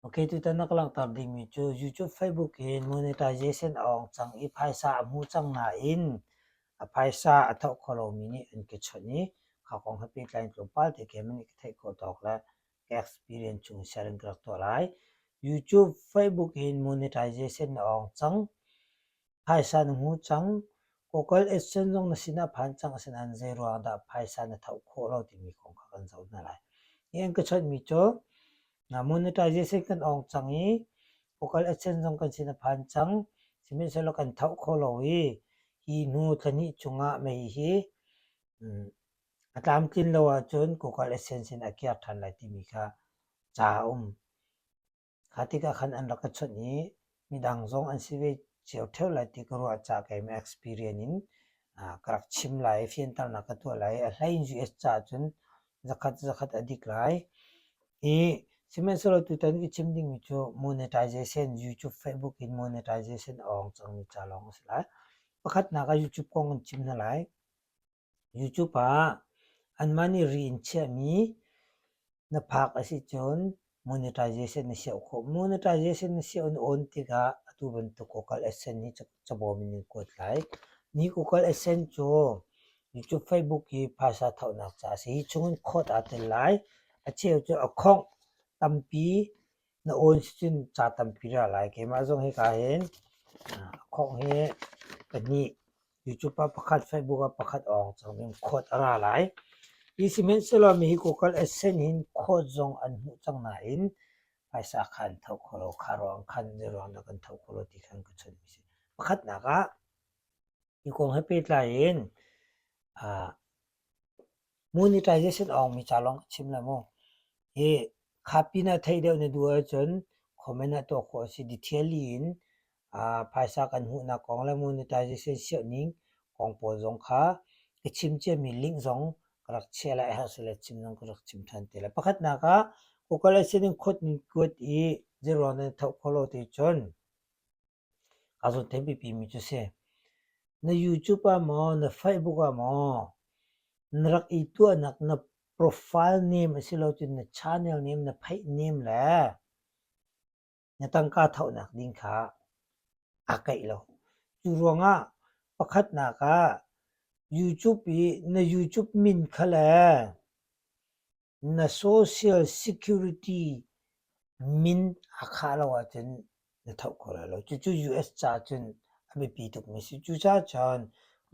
Okay, tutan na ka langhter dingmi cu YouTube, Facebook hi monetization a hong cang i phaisa a hmu cang nain a phaisa a thoh kho lomi nih an ka chawnh i kha kong he pehtlai in tlawmpal te keimah nih ka theih khawh tawk le ka experience chung in share in ka rak tuah lai. YouTube, Facebook hin monetization a hong cang. Phaisa na ngu cang. Kokal exchange zong na sin ah phan cang. Asinain zeiruang dah phaisa na tho khawh lo timi kong kha kan zoh hna lai. Hi an ka chawnhmi cu monetization kan ong cang i kokal exchange zong kan sin a phan cang. Sihmanhsehlaw kan tho kho lo i hi hnu thlahnih chung ah mei hi a tlamtlin lo ahcun kokal exchange sin ah kir ṭhan lai timi kha ca a um. Kha tikah khan an rak ka chawnh i midang zong an si ve cio ṭheu lai ti ka ruah caah keimah experience in ka rak chim lai i fianternak ka tuah lai. A hleiin US caah cun zakhat zakhat a dik lai. I sihmanhsehlaw tutan i chim dingmi cu monetization YouTube, Facebook in monetization a ong cangmi ca lawng a si lai. Pakhatnak ah YouTube kong in chim hna lai. YouTube ah anmah nih ri in chiahmi na phak a si cun monetization na siah khawh. Monetization na siah an awn tikah atu bantuk Google AdSense hi cabawm in nan kuat lai. Ni Google AdSense cu YouTube, Facebook hi phaisa thohnak caah a si. Hi chung in khawt aa tel lai. Acheu cu a khongh tampi Na awi sin ca tampi ra lai. Keimah zong hika hin khawng hi pahnih, YouTube ah pakhat, Facebook ah pakhat awng cang ding khawt a ra lai. Hi sihmanhsehlaw mi hi Google AdSense hin khawt zong an hmuh cang nain phaisa khan tho kho lo, kha ruang khan zeiruang dah kan tho kho lo ti khan ka chawnhmi a si. Pakhatnak ah, hi kong he pehtlai in ah Monetization a hong mi ca lawng chim le mu hi kha pin ah theih deuh na duh ahcun comment ah tuah khawh a si. Detailly in phaisa kan hmuhnak kong le monetization sianh ning kong pawl zong kha ka chim cia mi link zong ka rak chiah lai a herh si le chim zong ka rak chim ṭhan te lai. Pakhatnak ah Google ah sin in kuat ning kuat i zeirawn in na thoh khawh lo ticun A zut thei pipi mi cu si. Na YouTube ah maw, na Facebook ah maw, na rak i tuahnak na profile name asilo cun na channel name, na theih name le na tangka thohnak ding kha aa keih lo. Cu ruangah pakhatnak ah YouTube i na YouTube min kha le Na social security min a khah lo ahcun na tho kho lai lo. Cucu US ca cun a biapi tukmi a si. Cucaah cun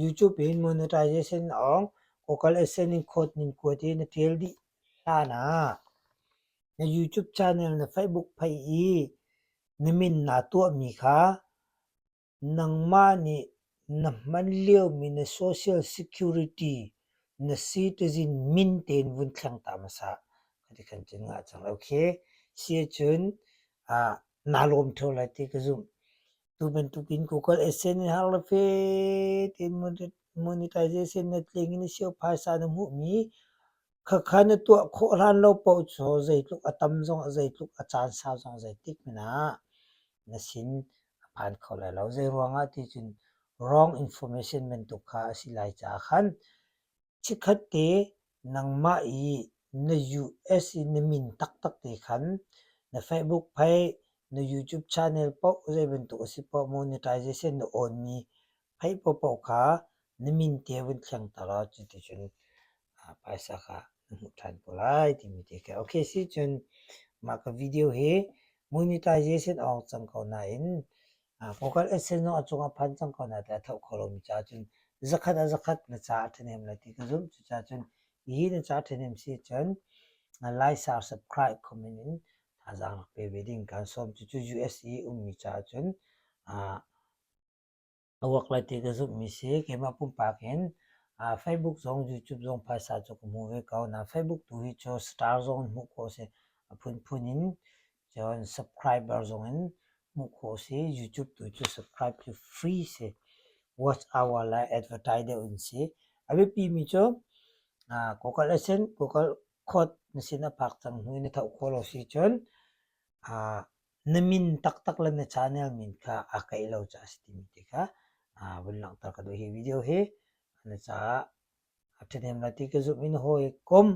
YouTube in monetization awng Google AdSense code ning kuat i na ṭial dih hlan ah na YouTube channel na Facebook phei i na min naa tuahmi kha Nangmah nih na hman liomi na social security na citizen min tein vun thleng ta hmasa ka ti kan cun ngah cang lo khi. Si ahcun naa lawm ṭheo lai ti ka zumh. Tu bantukin Google AdSense har le fe tein monetization na tling in a si awk phaisa na hmuhmi Khakha na tuah khawh hlan lo paoh cu zeitluk a tam zong, zeitluk a caan sau zong zeitik men ah na sin a phan kho lai lo. Zeiruangah ti cun wrong information bantuk kha a si lai caah khan chikkhat te nangmah i na US i na min taktak te khan na Facebook phei, na YouTube channel paoh, zei bantuk a si paoh, monetization na awnmi Hei paohpaoh kha na min te vun thlengter law cuticun phaisa kha na hmuh ṭhan ko lai timi te kha. Okay, sicun mah ka video hi monetization a hong cang ko nain vocal essence zong a cungah phan cang ko nain a tho kho lomi caah cun zakhat ah zakhat na ca a ṭhahnem lai ti ka zumh. Cucaah cun hihi na ca a ṭhahnem si cun like share subscribe comment in thazaang rak pe ve ding. Kan sawm. Cucu US i ummi caah cun A uak lai ti ka zumhmi si. Keimah pumpak in aa Facebook zong YouTube zong phaisa cu ka hmu ve ko. Na Facebook tu hi cu star zong in hmuh khawh a si. A phunphun in cun subscriber zong in hmuh khawh a si. YouTube tu cu subscribe cu free si. Watch hour le advertise deuh in si. A biapimi cu Google Assistant, Google Quote na sin a phak cang hnu in na thoh khawh lo si cun Na min taktak le na channel min kha a kaih lo caah a si timi ti kha vun langhter ka duh. Hi video hi na caah a ṭhahnem lai ti ka zumh in hawi kom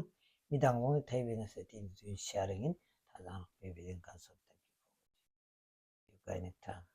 midang kong nih thei ve na seh tiin sharing in thazaang rak pe ve ding kan sawm. Thank you. You guys need time.